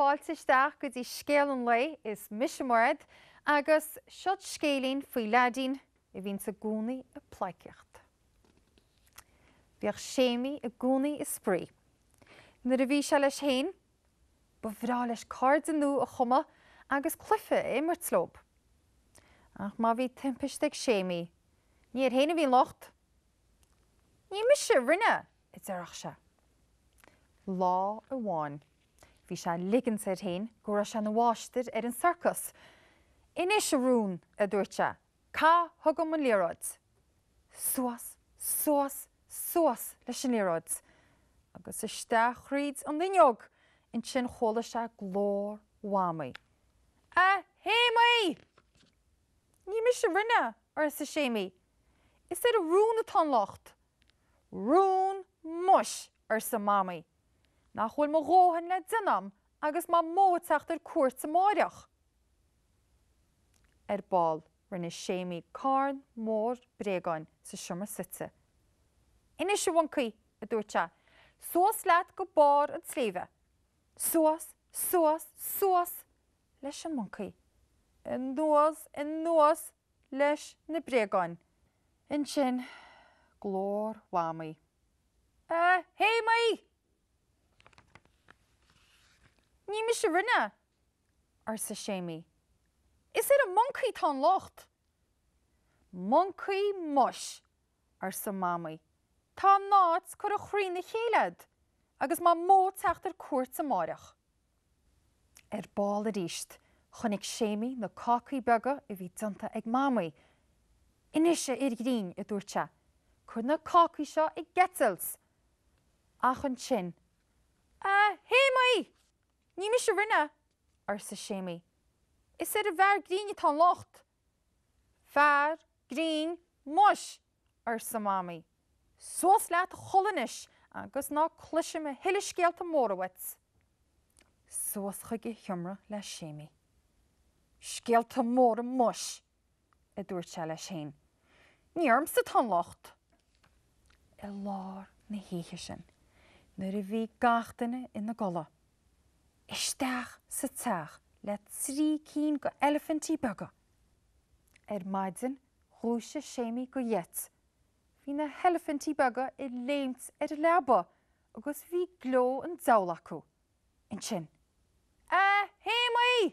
Fáilte isteach go dtí Scéal an Lae, is mise Mairéad agus seod scéilín faoi leaidín a bhíonns i gcónaí ag pleidhcíocht. Bhíodh Séimí i gcónaí ag spraoi Nuair a bhí sé leis féin, ba bhreá leis cairde nua a chumadh agus cluiche a imirt leob. Ach má bhí timpiste ag Séimí, ní air féin a bhí an locht. Ní mise a rinne! a deireadh sé. Lá amháin, bhí sé ag ligint air féin go raibh sé ina mháistir ar an sorcas. Anois a róin, a dúirt sé, Caith chugam an liathróid? Suas, suas, suas leis an liathróid agus isteach thríd an fhuinneog, ansin chuala sé glór Mhamaí. A Shéimí! Ní mise a rinne, arsa Séimí. Is ar an rón atá an locht. Rón muis! arsa Mamaí. Nach bhfuil mo dhóthain le déanam agus Mamó ag teacht ar cuairt amáireach? Ar ball, rinne Séimí carn mór bréagáin sa seomra suite. Anois, a mhoncaí, a dúirt sé, suas leat go barr an tsléibhe. Suas, suas, suas leis an moncaí. Anuas, anuas leis na bréagáin. Ansin, glór Mhamaí. A Shéimí! Ní mise a rinne! arsa Séimí. Is ar an moncaí atá an locht. Moncaí muis! arsa Mamaí. Tá an áit curtha thrína chéile a'd agus Mamó ag teacht ar cuairt amáireach. Ar ball arís chonaic Séimí na cácaí beaga a bhí déanta ag Mamaí. Anois a fhir ghrinn, a dúirt sé, cuir na cácaí seo ag eitilt. Ach ansin, A Shéimí! Ní mise a rinne! arsa Séimí. Is ar an bhfear grinn atá an locht! Fear grinn muis! arsa Mamaí. Suas leat a chodladh anois agus ná cloisim a thuilleadh scéalta móra uait. Suas chuig a sheomra le Séimí. Scéalta móra muis! a dúirt sé leis féin. Ní ormsa atá an locht! I lár na hoíche sin, nuair a bhí gach duine ina gcodladh, isteach sa teach le trí cinn de eilifintí beaga. Ar maidin, dhúisigh Séimí de gheit. Bhí na heilifintí beaga ag léimt ar an leaba agus bhí gleo an deabhail acu. ansin, A Shéamaí!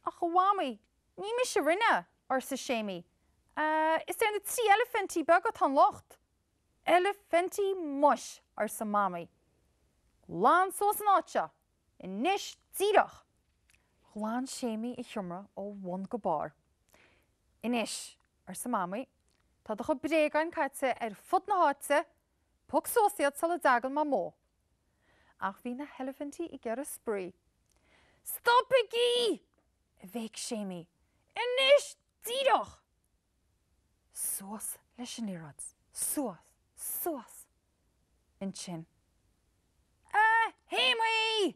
Ach a Mhamaí, ní mise a rinne, arsa Séamaí. Is ar na trí eilifintí beaga atá an locht. Eilifintí muis! arsa Mamaí. Glan suas an áit seo, anois díreach! Ghlan Séamaí a sheomra ó bhun go barr. Anois, arsa Mamaí, tá do chuid bréagáin caite ar fud na háite Pioc suas iad sula dtagann Mamó. Ach bhí na heilifintí ag iarraidh spraoi. Stopaigí! a bhéic Séamaí. Anois díreach! Suas leis an liathróid. Suas. Suas. Ansin, A Shéamaí!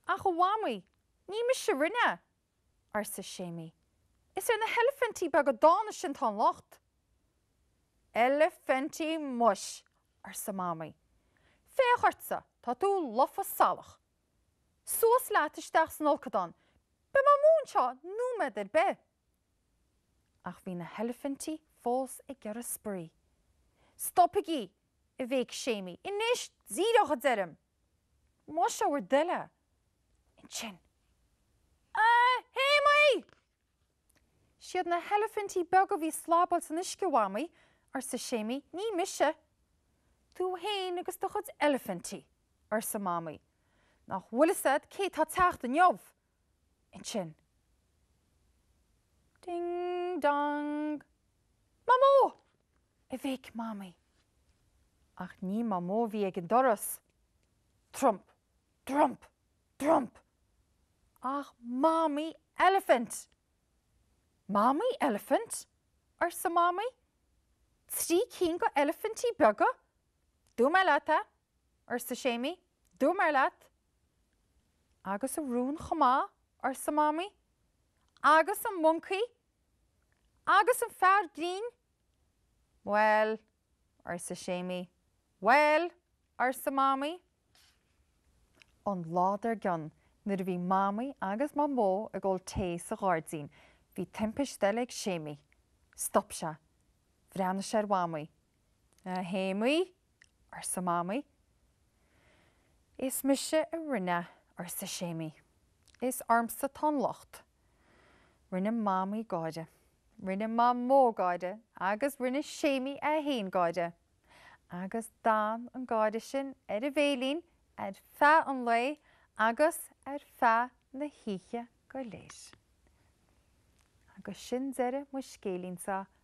Ach a Mhamaí, ní mise a rinne! arsa Séamaí. Is ar na heilifintí beaga dána sin atá an locht. Eilifintí muis! arsa Mamaí. Féach ortsa, tá tú lofa salach. Suas leat isteach san fholcadán, beidh Mamó anseo nóiméad ar bith. Ach bhí na heilifintí fós ag iarraidh spraoi. Stopaigí! a bhéic Séamaí. Anois díreach, a deirim! Más é bhur dtoil é. Ansin. A Shéamaí! Siad na heilifintí beaga a bhí slabáil san uisce a Mhamaí, arsa Séamaí, ní mise. Tú fhéin agus do chuid eilifintí, arsa Mamaí. Nach bhfuil 'fhios a'd cé tá teacht inniu? Ansin. Ding dong! Mamó! A bhéic Mamaí. Ach ní Mamó a bhí ag an doras. Trump, trump, trump! Ach Mamaí Eilifint! Mamaí Eilifint? arsa Mamaí. Trí cinn de eilifintí beaga? Dúirt mé leat é, arsa Séamaí. Dúirt mé leat. Agus an rón chomh maith, arsa Mamaí. Agus an moncaí? Agus an fear grinn? Bhuel, arsa Séamaí. Bhuel, arsa Mamaí. An lá dar gcionn, nuair a bhí Mamaí agus Mamó ag ól tae sa ghairdín, bhí timpist eile ag Séamaí. Stop sé. Bhreathnaigh sé ar Mhamaí. A Shéamaí, arsa Mamaí. Is mise a rinne, arsa Séamaí. Is ormsa tá an locht. Rinne Mamaí gáire. Rinne Mamó gáire agus rinne Séamaí é féin gáire. Agus d'fhan an gáire sin ar a bhéilín ar feadh an lae agus ar feadh na hoíche go léir. Agus sin deireadh mo scéilín-sa